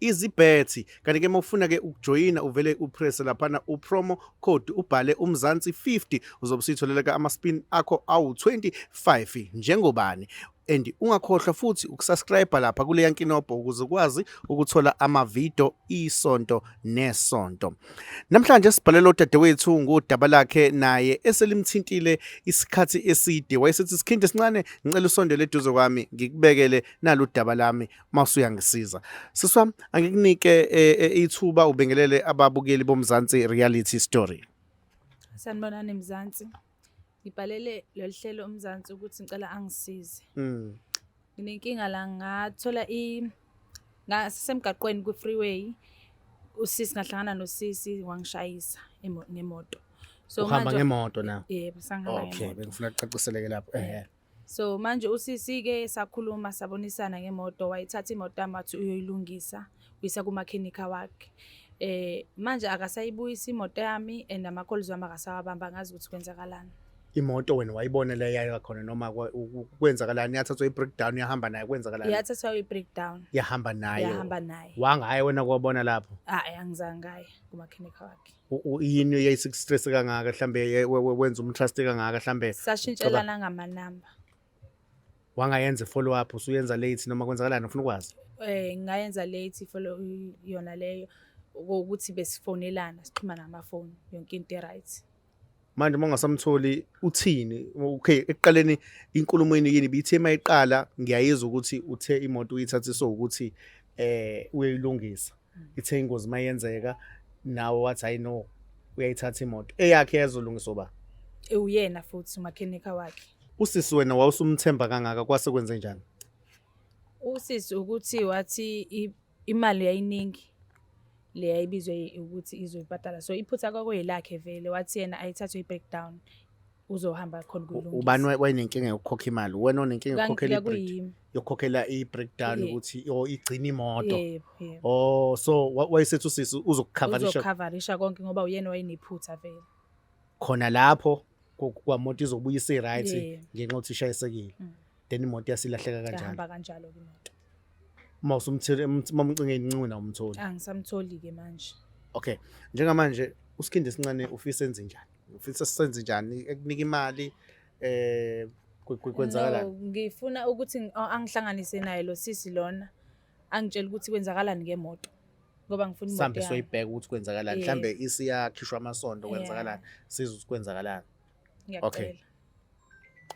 izibhethi kanti ke mawufuna ke ukujoyina uvele upress laphana upromo code ubhale umzansi 50 uzobe usitholeleka ama spin akho awu 25 njengobani and ungakhohlwa futhi ukusubscribe lapha kuleya nkinobho ukuze ukwazi ukuthola amavidiyo isonto nesonto namhlanje sibhalela udadewethu ngodaba lakhe naye eselimthintile isikhathi eside wayesethi sikhindi esincane ngicela usondele eduze kwami ngikubekele naludaba lami mawusuyangisiza sisi wami angikunike eh, eh, ithuba ubingelele ababukeli bomzansi reality story sanibonani mzansi ngibhalele lolu hlelo umzansi ukuthi ngicela angisize mm. nginenkinga la ngathola i ngasemgaqweni kwi-freeway usisi ngahlangana nosisi wangishayisa emo- ngemoto so uhamba manje- ngemoto na yebo sangihamba okay ngemoto. bengifuna kucaciseleke lapho ehe So manje usisi ke sakhuluma sabonisana ngemoto wayithatha imoto yami wathi uyoyilungisa uyisa kumakhenikha wakhe eh manje akasayibuyisa imoto yami and amakholizwe wami akasawabamba ngazi ukuthi kwenzakalani imoto wena wayibona le yaya khona noma kwenzakalani yathathwa i-breakdown yahamba naye kwenzakalani yathathwa i-breakdown yahamba naye yahamba naye wangaye wena kwabona lapho hayi angizange ngaye kumakhenikha wakhe yini eyayisistress kangaka mhlambe wenza umtrust kangaka mhlambe sashintshelana ngamanamba wangayenza follow up usuyenza late noma kwenzakalani ufuna ukwazi eh ngayenza late follow yona leyo ukuthi besifonelana sixhumana ngamafoni yonke into right manje uma ungasamtholi uthini okay ekuqaleni inkulumo yini yini bithe uma iqala ngiyayizwa ukuthi uthe imoto uyithathise ukuthi eh uyilungisa ithe ingozi mayenzeka nawe wathi hayi no uyayithatha imoto eyakhe yazolungiswa ba ewuyena futhi umakhenika wakhe usisi wena wawusumthemba kangaka kwase kwenze njani usisi ukuthi wathi i- imali yayiningi le yayibizwe ukuthi izoyibhadala so iphutha kwakweyelakhe vele wathi yena ayithathwe i-breakdown uzohamba khona kuyilungisa ubani wayenenkinga yokukhokha imali wena onenkinga yokukhokhela yokukhokhela i-breakdown ukuthi or igcina imoto oh so wayesethi usisi uzokukhavarisha uzokukhavarisha konke ngoba uyena wayenephutha vele khona lapho kwamoto izobuya isi-right ngenxa yokuthi ishayisekile mm. then imoto yasilahleka kanjalo yahamba kanjalo ke imoto uma usumthele mamcinge incuna umtholi angisamtholi ke manje okay njengamanje usikhindi esincane ufisa enze njani ufisa senze njani ekunika imali eh kwenzakalani no, ngifuna ukuthi angihlanganise naye lo sisi lona angitshela ukuthi kwenzakalani ngemoto ngoba ngifuna imoto yami soyibheka ukuthi kwenzakalani mhlambe isiyakhishwa amasondo kwenzakalani siza ukuthi kwenzakalani Okay.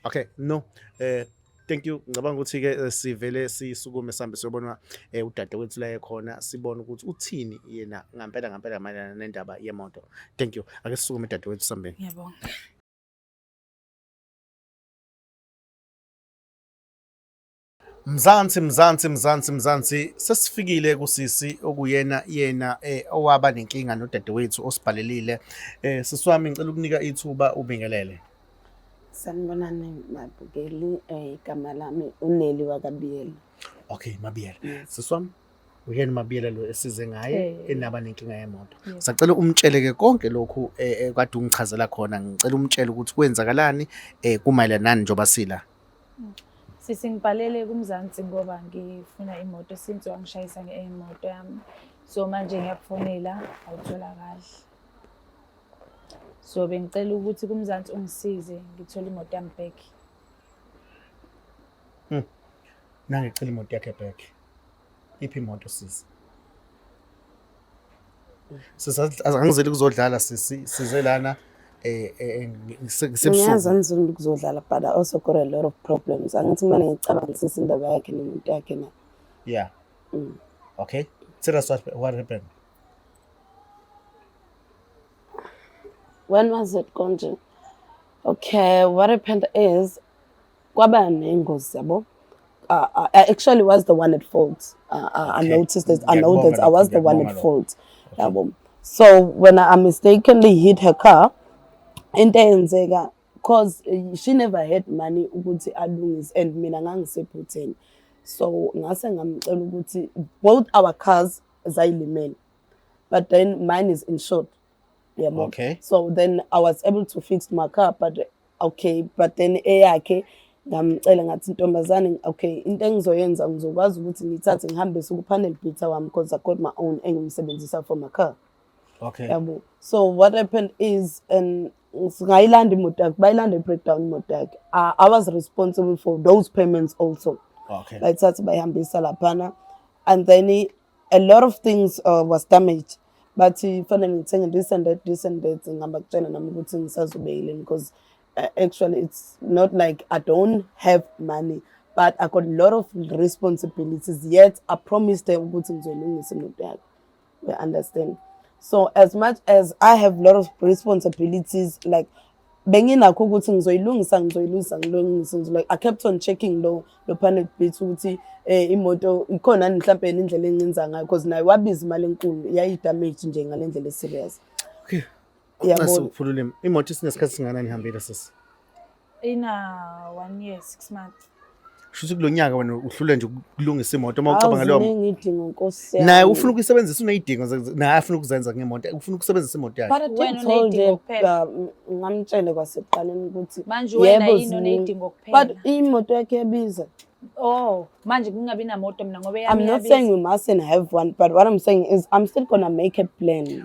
Okay, no. Eh thank you ngicabanga ukuthi ke eh, sivele sisukume sambe siyobona eh, udade wethu la ekhona sibone ukuthi uthini yena ngampela ngampela mayelana nendaba yemoto thank you ake sisukume dade wethu sambeni ngiyabonga Mzansi mzansi mzansi mzansi sesifikile kusisi okuyena yena eh, owaba nenkinga nodadewethu osibhalelile eh, sisi wami ngicela ukunika ithuba ubingelele Sanibonani babukeli eh, igama lami uNeli wakabiyela okay mabiyela Yes. sisi wami uyena mabiyela lo esize ngaye Eh. enaba nenkinga yemoto Yes. sacela umtshele ke konke lokhu eh, eh, kade ungichazela khona ngicela umtshele ukuthi kwenzakalani eh, kumayelana nani njengoba sila Sisi ngibhalele kuMzansi ngoba ngifuna imoto since wangishayisa ngemoto yami. So manje ngiyakufonela awutholakali. So bengicela ukuthi kuMzansi ungisize ngithole imoto yami back. Hmm. Nangicela imoto yakhe back. iphi imoto sisi sisangizeli kuzodlala sisi size lana eh, eh, eh, ngisebusuku angizeli kuzodlala but I also got a lot of problems angithi mina ngicabanga sisi indaba yakhe nomuntu yakhe na yeah mm. okay tell us what, what happened when was it konje okay what happened is kwaba nengozi yabo uh, uh, I actually was the one at fault. Uh, uh, I noticed that. I know that I was the one at fault. Yabo. So when I mistakenly hit her car, into eyenzeka cause eh, she never had money ukuthi alungise and mina ngangisephutheni. So ngase ngamcela ukuthi both our cars zayilimele. But then mine is insured. Yabo. Okay. So then I was able to fix my car but okay but then eyakhe ngamcela ngathi ntombazane okay into engizoyenza ngizokwazi ukuthi ngithathe ngihambise ku-panel beater wami because i got my own engimsebenzisa for my car okay yabo so what happened is and ngayilanda imoto yakhe bayilanda i-breakdown imoto yakhe uh, i was responsible for those payments also okay bayithathe bayihambisa laphana and then a lot of things uh, was damaged bathi fanele ngithenge this and that this and that ngihamba kutshena nami ukuthi ngisazobeyile because uh, actually it's not like i don't have money but i got a lot of responsibilities yet i promised her ukuthi ngizoyilungisa imoto yakhe we understand so as much as i have a lot of responsibilities like benginakho ukuthi ngizoyilungisa ngizoyilungisa ngilungise ngizolike i kept on checking lo lo panic beat ukuthi eh imoto ikhona ni mhlawumbe indlela encinza ngayo because naye wabiza imali enkulu yayi damage nje ngalendlela e serious okay yabo ukuphulula imoto isinesikhathi singana nihambile sisi ina 1 year 6 months shuthi kulo nyaka wena uhlule nje ukulungisa imoto uma ucabanga leyo ngidinga nkosi yami naye ufuna ukuyisebenzisa uneyidingo naye afuna ukuzenza ngemoto ufuna ukusebenzisa imoto yakhe but wena uneyidingo kuphela ngamtshele kwasekuqaleni ukuthi manje wena yini uneyidingo kuphela but imoto yakhe yabiza Oh, manje kungabi namoto mina ngoba yami I'm not saying we mustn't have one, but what I'm saying is I'm still gonna make a plan.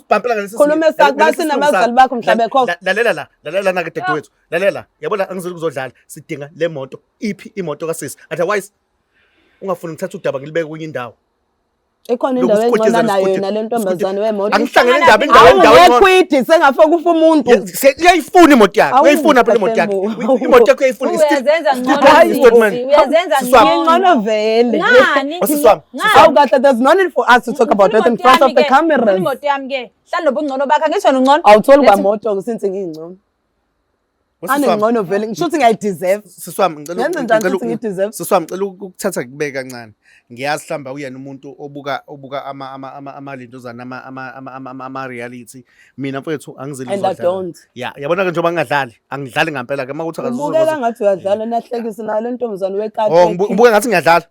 bhampela ngalesi Khuluma esakho, base nabazali bakho mhla bekhokha. lalela la lalela lana ke dadewethu lalela yabona angizeli kuzodlala sidinga le moto iphi imoto kasisi otherwise ungafuni ngithatha udaba ngilibeke kwenye indawo ikhona indawo Lokhu engcono sikhotshezela nayo yona le ntombazane wemoto angihlangene indaba indawo indawo awungekho engcono. idi sengafo kufa umuntu Ye- se- uyayifuna imoto yakhe Awu, uyayifuna phela imoto yakhe Mthethembu. Uy- imoto yakhe uyayifuna Uyazenza Still- ngcono still- Hayi, Sisi, Sisi, man. uyazenza Sisi wami. ngcono. ingcono vele Ngani? Wasisi wami Awu kahle there's no need for us to talk about it in front of the cameras. Imoto yami ke. Hlala nobungcono bakhe ngisho ungcono. Awutholi kwamoto since ngingcono. Anengcono vele ngisho ukuthi ngiyayideserve. Siswami ngicela ngicela Siswami ngicela ukuthatha kubeke kancane. Ngiyazi hlamba uyena umuntu obuka obuka ama ama ama ama lindozana ama ama ama ama ama reality. Mina mfethu angizeli uzodlala. And I don't. Yeah, yabona ke njengoba ngingadlali, angidlali ngempela ke makuthi akazuzo. Ubukeka ngathi uyadlala nahlekisa nalo ntombazane wekati. Oh, ubukeka ngathi ngiyadlala.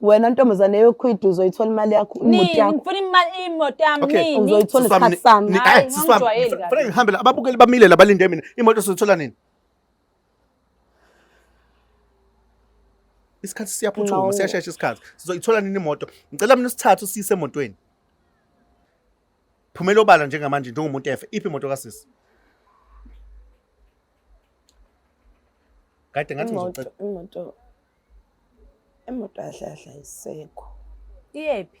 wena ntombazane yokhwidu uzoyithola imali yakho imoto yakho ngifuna imali imoto yami okay uzoyithola isikhathi sami hayi ngijwayeli kahle fanele ngihambe la ababukeli bamile labalinde mina imoto soyithola nini isikhathi siyaphuthuma siyashesha isikhathi sizoyithola nini imoto ngicela mina usithathe usiyise emotweni phumela obala njengamanje njengomuntu efe iphi imoto kasisi kade ngathi ngizocela imoto Imoto yahle yahle ayisekho. Iyephi?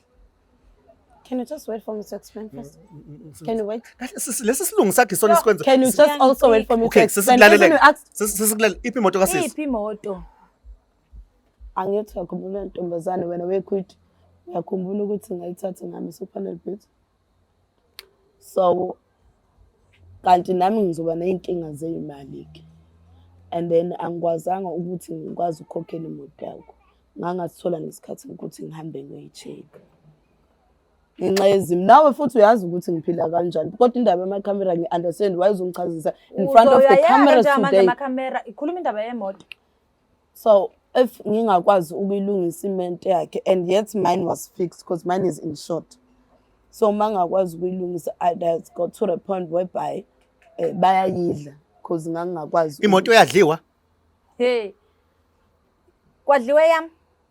Can you just wait for me to explain mm, first? Mm, mm, can you wait? Lesi silungu sakhe sona sikwenza. Can you just also wait for me to explain? Okay, sesilalele. Sesilalele iphi imoto kasisi? Iphi imoto? Angithi wakhumbula ntombazane wena wekwithi. Uyakhumbula ukuthi ngayithatha ngami sokufanele bhithi. so kanti nami ngizoba ney'nkinga zey'mali-ke and then angikwazanga ukuthi ngikwazi ukukhokhela imoto yakho ngangathola ngesikhathi ukuthi ngihambe ngiyoyi-check-a ngenxa yezimo nawe futhi uyazi ukuthi ngiphila kanjani kodwa indaba yamakhamera ngi-understand wayezongichazisa in front of the cameras today ikhuluma indaba yemoto so if ngingakwazi ukuyilungisa imente yakhe and yet mine was fixed because mine is in short so uma ngingakwazi ukuyilungisa i just got to the point whereby eh, bayayidla because ngangingakwazi imoto yadliwa hey kwadliwe yami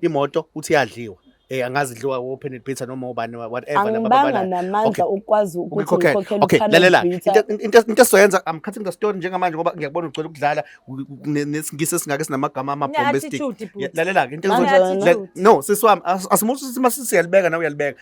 imoto uthi yadliwa eh angazi idliwa open it pizza noma ubani whatever laba bana namandla okwazi ukuthi ukhokhele okay lalela into into soyenza i'm cutting the story njengamanje ngoba ngiyakubona ugcwele ukudlala nesingise singake sinamagama ama bombastic lalela ke into no siswami asimuthi sima siyalibeka na uyalibeka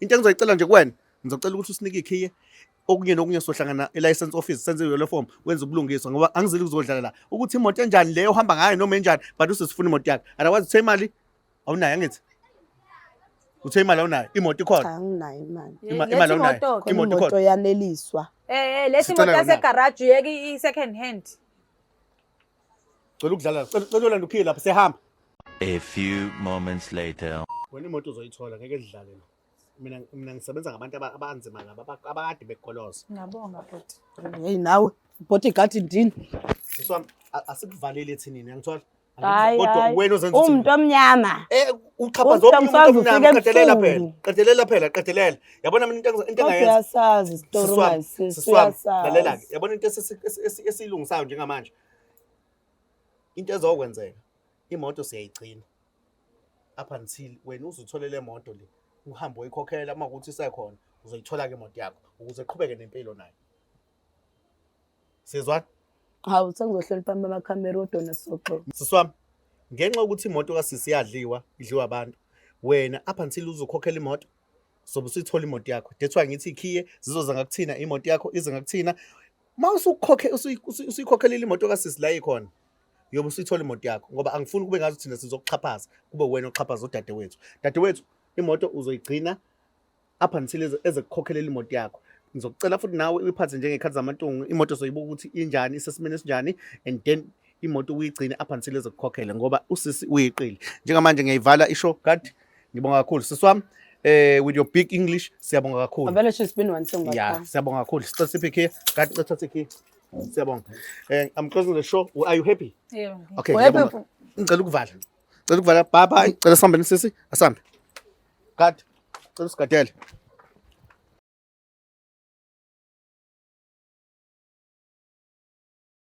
into engizoyicela nje kuwena ngizocela ukuthi usinike ikhiye okunye nokunye sohlangana e-license office senze yolo form wenza ubulungiswa ngoba angizile ukuzodlala la ukuthi imoto enjani leyo ohamba ngayo noma enjani but usesifuna imoto yakhe otherwise uthe imali awunayo angithi uthe imali awunayo imoto ikhona Cha anginayo imali. Ima- Lesi imali awunayo. moto-ke. Khona Imoto imoto ikhona. yaneliswa. Eh, eh, lesi Sicela moto yona. yasegaraji yeke i-second hand. Cela ukudlala. Cela cela ulanda ukhile lapha sehamba. A few moments later. Wena imoto uzoyithola ngeke dlale la. Mina mina ngisebenza ngabantu aba- abanzima laba aba- abakade bekukoloza. Ngiyabonga bhuti. Hey nawe bhoti gadi ndini. Sisi wami a- asikuvaleli ethinini uyangithola? Hayi Kodwa hayi. wena ozenza Umuntu omnyama. Eh uxhaphaza Uthi wonke umuntu angifakwa omnyama ufike qedelela phela. ebusuku. Qedelela phela qedelela. yabona mina into engizo- into kodwa engayenza uyasazi isitori Siswami, manje sisi siswami, uyasazi lalela-ke yabona into esisi- esi- esi- esiyilungisayo njengamanje into ezokwenzeka imoto siyayigcina up until wena uze uthole le moto le uhambe uyikhokhela uma kuthi isekhona uzoyithola-ke imoto yakho ukuze iqhubeke nempilo nayo sizwa hawu sengizohlonipha amakhamera udona soxo siswami ngenxa yokuthi imoto kasisi yadliwa idliwa abantu wena up until uzokhokhela imoto sobe usuyithola imoto yakho that's why ngithi ikhiye zizoza ngakuthina imoto yakho ize ngakuthina uma usukhokhe usuyikhokhelela imoto kasisi la ikhona yobe usuyithola imoto yakho ngoba angifuni kube ngathi thina sizokuxhaphaza kube wena oxhaphaza udadewethu dadewethu imoto uzoyigcina up until eze kukhokhelela imoto yakho ngizocela futhi nawe uyiphathe njengekhathi zamantungu imoto soyibuka ukuthi injani isesimeni esinjani and then imoto uyigcine up until ezokukhokhela ngoba usisi uyiqili njengamanje ngiyayivala isho kanti ngibonga kakhulu sisi wami eh with your big english siyabonga kakhulu abele she's been one song yeah siyabonga kakhulu sicela siphi key kanti cela thathe key siyabonga eh i'm closing the show are you happy yeah okay ngiyabonga ngicela ukuvala cela ukuvala bye bye cela sihambe nisisi asambe god cela usigadele